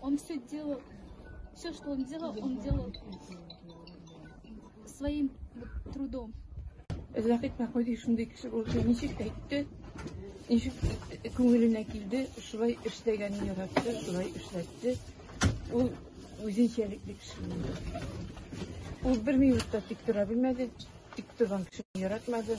Он все делал, все, что он делал, он делал своим трудом. Рәхит Мәхмүди шундый кеше булды, ничек әйтте, ничек күңеленә килде, шулай эшләгәнен яратты, шулай эшләтте. Ул үзенчәлекле кеше булды. Ул бер минутта тик тора белмәде, тик торган кешене яратмады.